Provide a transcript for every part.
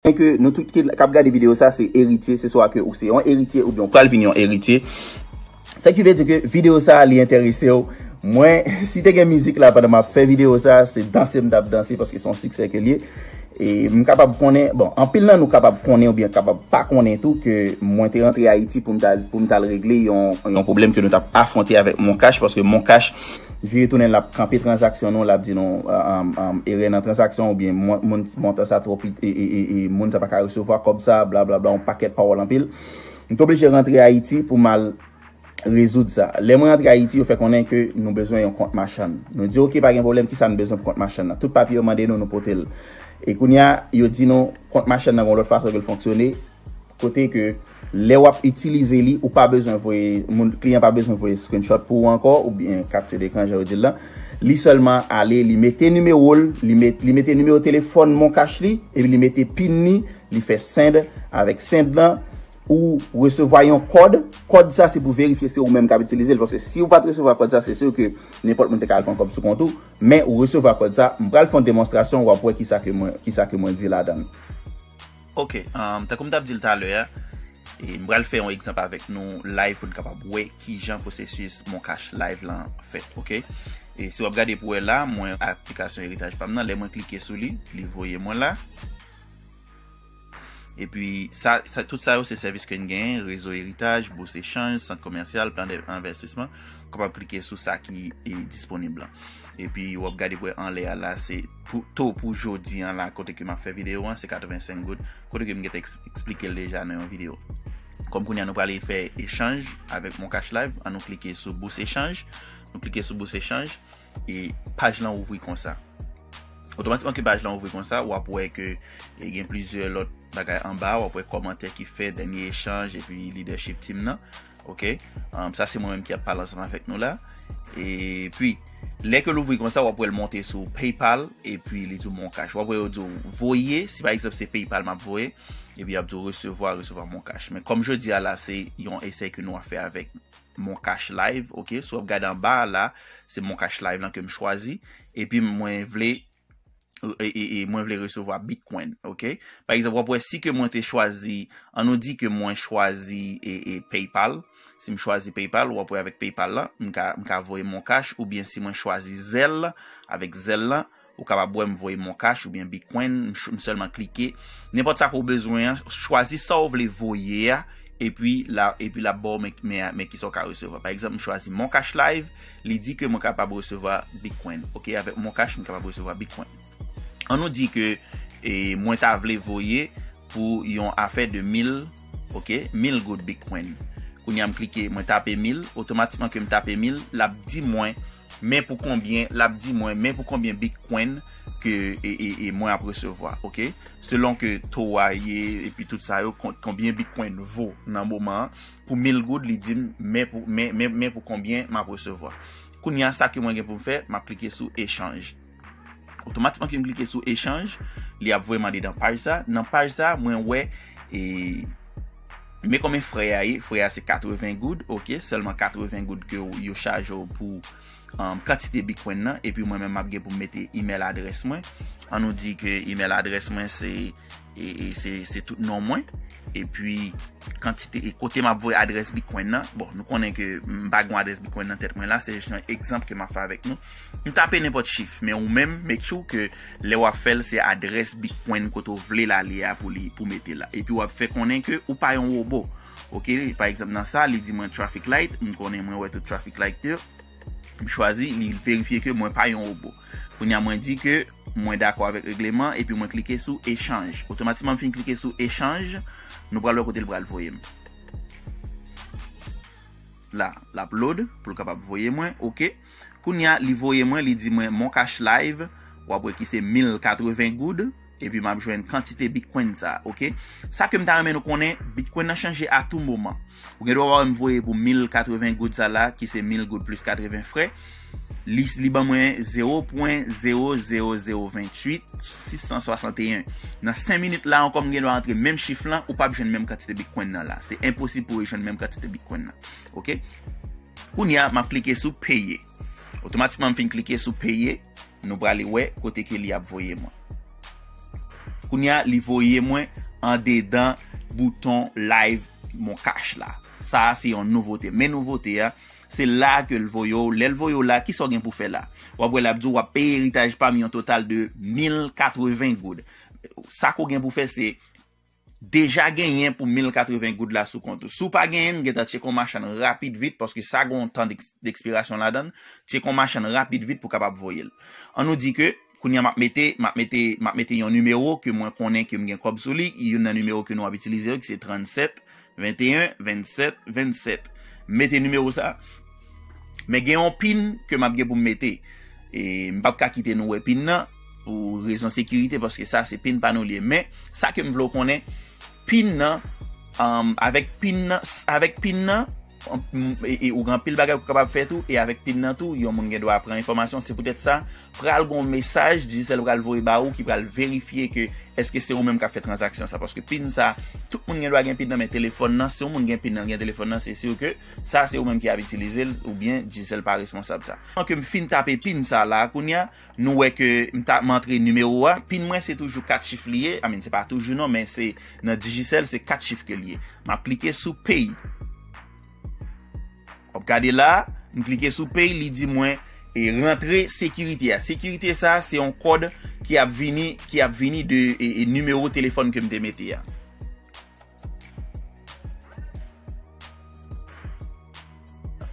Mwen ke nou tout ki kap gade video sa se eritye se swa ke ou se yon eritye oubyen ou pral vin yon eritye sa ki vle di ke video sa li enteresew mwen si te gen mizik la pandan map fè video sa se danse m tap danse paske son siksè ke liye e m kapab konnen bon anpil nan nou kapab konnen oubyen kapab pa konnen tou ke mwen te rantre ayiti poum tal regle yon pwoblèm ke nou tap afwonte avèk moncash paske moncash Vire tounen l ap kanpe tranzaksyon nou, l ap di nou erè nan tranzaksyon oubyen montan sa twò piti e moun sa pa ka resevwa kòb sa, blablabla yon pakèt pawòl anpil. M te oblije rantre Ayiti pou m al rezoud sa. Lè mwen rantre Ayiti yo fè konnen ke nou bezwen yon kont machann. Nou di ok pa gen pwoblèm kisa n bezwen pou kont machann nan. Tout papye yo mande nou nou pote l. E kounye a yo di nou kont machann nan gen yon lòt fason ke l fonksyone kote ke Lè wap itilize li, ou pa bezwen voye, moun, kliyan pa bezwen voye screenshot pou ou ankò, ou byen capture d'écran jan yo dil lan. Li sèlman ale, li mete nimewo l, li met, li mete nimewo telefòn moncash li, epi li mete pin li, li fè send, avèk send lan, ou resevwa yon kòd, kòd sa se pou verifye se ou menm kap itilize l, paske si ou pat resevwa kòd sa se sur ke nenpòt moun te ka al pran kòb sou kont ou, men ou resevwa kòd sa, m pral fè yon demonstrasyon wap wè kisa ke mwen, kisa ke mwen di ladan l. Ok, tankou m t ap di l talè a, m pral fè yon egzanp avèk nou live pou n kapab wè kijan pwosesis moncash live lan fèt ok. Si w ap gade pou wè la, mwen ak aplikasyon eritaj pa m nan, lè mwen klike sou li, li voye mwen la. Epi sa, tout sa yo se sèvis ke n genyen, rezo eritaj, bous echanj, sant komèsyal, plan de envèstisman, w kapab klike sou sa ki disponib lan. Epi w ap gade pou wè anlè a la se. To pou jodi an la kote ke m ap fè videyo an se 85 goud kote ke m gen te eksplike l deja nan yon videyo. Kòm kounye an nou prale fè echanj avèk Moncash Live, an nou klike sou bous echanj. Nou klike sou bous echanj e paj lan ouvri konsa. Otomatikman ke paj lan ouvri konsa, w ap wè ke e gen plizyè lòt bagay anba, w ap wè kòmantè ki fèt, dènye echanj epi lidèchip team nan. Ok, sa se mwen menm ki ap pale ansanm avèk nou la. E pi, lè ke l ouvri konsa, w ap wè l monte sou PayPal, e pi li di w MonCash. W ap wè yo di w voye, si pa egzanp se PayPal m ap voye, e pi y ap di w resevwa, resevwa MonCash. Men kòm jodi a la se yon esèy ke nou ap fè avèk MonCash Live, ok, si w ap gade anba a la, se MonCash Live lan ke m chwazi, e pi mwen vle e mwen vle resevwa bitcoin ok pa egzanp wap wè si ke mwen te chwazi an nou di ke mwen chwazi e paypal si m chwazi paypal wap wè avèk paypal la m ka m ka voye mon cash oubyen si mwen chwazi zèl avèk zèl la ou kapab wè m voye mon cash oubyen bitcoin m sèlman klike nenpòt sa ke ou bezwen an chwazi sa ou vle voye a epi la epi lap baw men men kisa ou ka resevwa pa egzanp m chwazi mon cash live Li di ke mwen kapab resevwa bitcoin. Ok avèk moncash mwen kapab resevwa bitcoin. An nou di ke mwen ta vle voye pou yon afè de 1000 ok 1000 goud bitcoin. Kounye a m klike mwen tape 1000 otomatikman ke m tape 1000 lap di mwen men pou konbyen lap di mwen men pou konbyen bitcoin ke e mwen ap resevwa ok. Selon ke to a ye epi tout sa yo konbyen bitcoin vo nan moman an. pou mil goud li dim men pou men pou konbyen map resevwa kounya sa ke mwen gen poum fè map klike sou echanj otomatikman kem klike sou echanj li ap voyem andedan paj sa nan paj sa mwen wè e men konbyen frè a ye frè a se 80 goud ok selman 80 goud ke yo chajew pou kantite bitcoin nan epi mwen menm map gen poum mete email adrès mwen an nou di ke email adrès mwen se e se tout non mwen e pi kantite e kote m ap voye adres bitcoin nan bon nou konnen ke m pa gen adres bitcoin nan tèt mwen la se jis yon egzanp ke m ap fè avèk nou m tape nenpòt chif men ou menm make sure ke lè w ap fè l se adres bitcoin kote ou vle l ale a pou li pou mete la e pi w ap fè konnen ke ou pa yon wobo ok pa egzanp nan sa li di mwen traffic light m konnen mwen wè tout traffic light yo M chwazi li verifye ke mwen pa yon robo. Kounye a mwen di ke mwen dakò avèk regleman epi mwen klike sou echanj. Otomatikman m fin klike sou echanj. Nou pral wè kote l pral voye m. La, l ap load pou l kapab voye mwen. Ok. Kounye a li voye mwen, li di mwen Moncash Live. W ap wè ki se 1080 goud. Epi map jwenn kantite bitcoin sa ok. Sa kem ta renmen nou konnen bitcoin nan chanje a tou moman. Ou gen dwa wè m voye pou 1080 goud sa la ki se 1000 goud plis 80 frè. Li ban mwen 0.00028 661. Nan 5 minit la ankò m gen dwa antre menm chif lan ou pap jwenn menm kantite bitcoin nan la. Se enposib pou ou jwenn menm kantite bitcoin nan. Ok. Kounya map klike sou peye. Otomatikman m fin klike sou peye. Nou prale wè kote ke li ap voye mwen. Kounye a li voye mwen andedan bouton live moncash la. Sa a se yon nouvote. Men nouvote a, se la ke l voye w. Lè l voye w la, kisa w gen pou fè la? W ap wè l ap di w ap peye eritaj pa m yon total de 1080 goud. Sa ke w gen pou fè se Deja genyen pou 1080 goud la sou kont ou. Si w pa genyen, m gentan tcheke yon machann rapid vit, paske sa gen yon tan dekspirasyon ladan l, tcheke yon machann rapid vit pou w kapab voye l. An nou di ke, kounye a m ap mete, m ap mete, m ap mete yon nimewo ke mwen konnen ke m gen kòb sou li, youn nan nimewo ke nou ap itilize yo ki se 37 21 27 27 m mete nimewo sa men gen yon pin ke m ap gen pou m mete e m pap ka kite nou wè pin nan pou rezon sekirite paske sa se pin pa nou li men sa ke m vle w konnen pin nan um, avèk pin nan avèk pin nan e ou gen pil bagay pou kapab fè tou e avèk pin nan tou yon moun gen dwa pran enfòmasyon se poutèt sa pral gon mesaj Digicel pral voye ba ou ki pral verifye ke eske se ou menm kap fè transaksyon sa paske pin sa tout moun gen dwa gen pin nan men telefòn nan si yon moun gen pin nan gen telefòn nan se sur ke sa se ou menm ki ap itilize l ou byen Digicel pa responsab sa. An ke m fin tape pin sa la kounye a nou wè ke m ta m antre nimewo a pin mwen se toujou 4 chif li ye I mean se pa toujou non men se nan Digicel se 4 chif ke l ye map klike sou pay. Wap gade la, m klike sou pay li di mwen e rantre sekirite a. Sekirite sa se yon kòd ki ap vini ki ap vini de e nimewo telefòn ke m te mete a.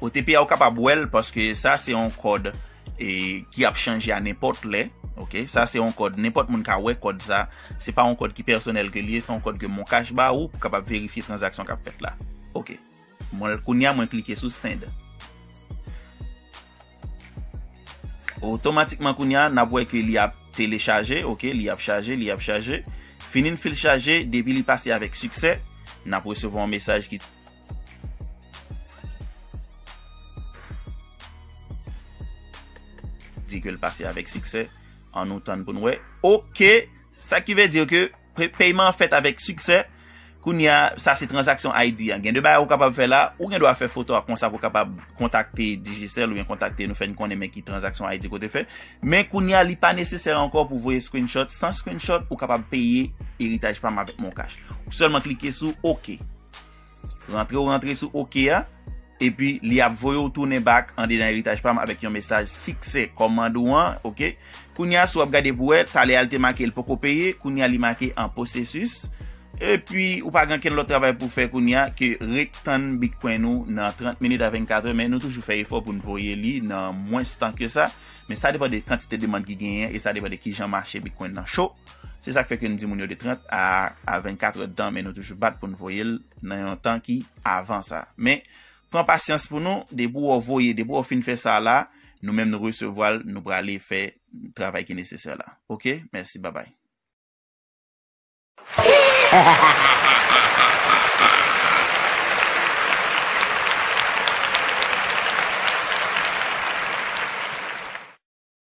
OTP a ou kapab wèl paske sa se yon kòd e ki ap chanje a nenpòt lè ok sa se yon kòd nenpòt moun ka wè kòd sa se pa yon kòd ki pèsonèl ke li ye se yon kòd ke moncash ba ou pou kapab verifye transaksyon kap fèt la ok mwen kounya mwen klike sou send otomatikman kounya nap wè ke li ap telechaje ok li ap chaje li ap chaje fini n fil chaje depi li pase avèk siksè nap resevwa yon mesaj ki. di ke l pase avèk siksè an nou tann pou n wè ok sa ki vle di ke peyman an fèt avèk siksè kounye a sa se transaksyon ID an gen de bagay ou kapab fè la ou gen dwa fè foto ak konsa pou kapab kontakte Digicel ou byen kontakte nou fè n konnen men ki transaksyon ID kote fè men kounye a li pa nesesè ankò pou voye screenshot san screenshot ou kapab peye eritaj pa m avèk moncash ou sèlman klike sou ok. Rantre ou rantre sou ok a, epi li ap voye ou tounen back andedan eritaj pam avèk yon mesaj siksè kòmand ou an ok. Kounye a si wap gade pou wè, talè a li te make li poko peye, kounye a li make an posesis, epi ou pa gen okenn lòt travay pou fè kounye a ke ret tann bitcoin ou nan 30 minit a 24 è, men nou toujou fè efò poun voye li nan mwens tan ke sa, men sa depan de kantite demand ki genyen e sa depan de kijan mache bitcoin nan cho. Se sak fè ke n di moun yo de 30 a a 24 èd tan men nou toujou bat pou n voye l nan yon tan ki avan sa. Men pran pasyans pou nou depi wè w voye depi wè w fin fè sa la nou menm nou resevwa l nou prale fè travay ki nesesè la ok mèsi babay.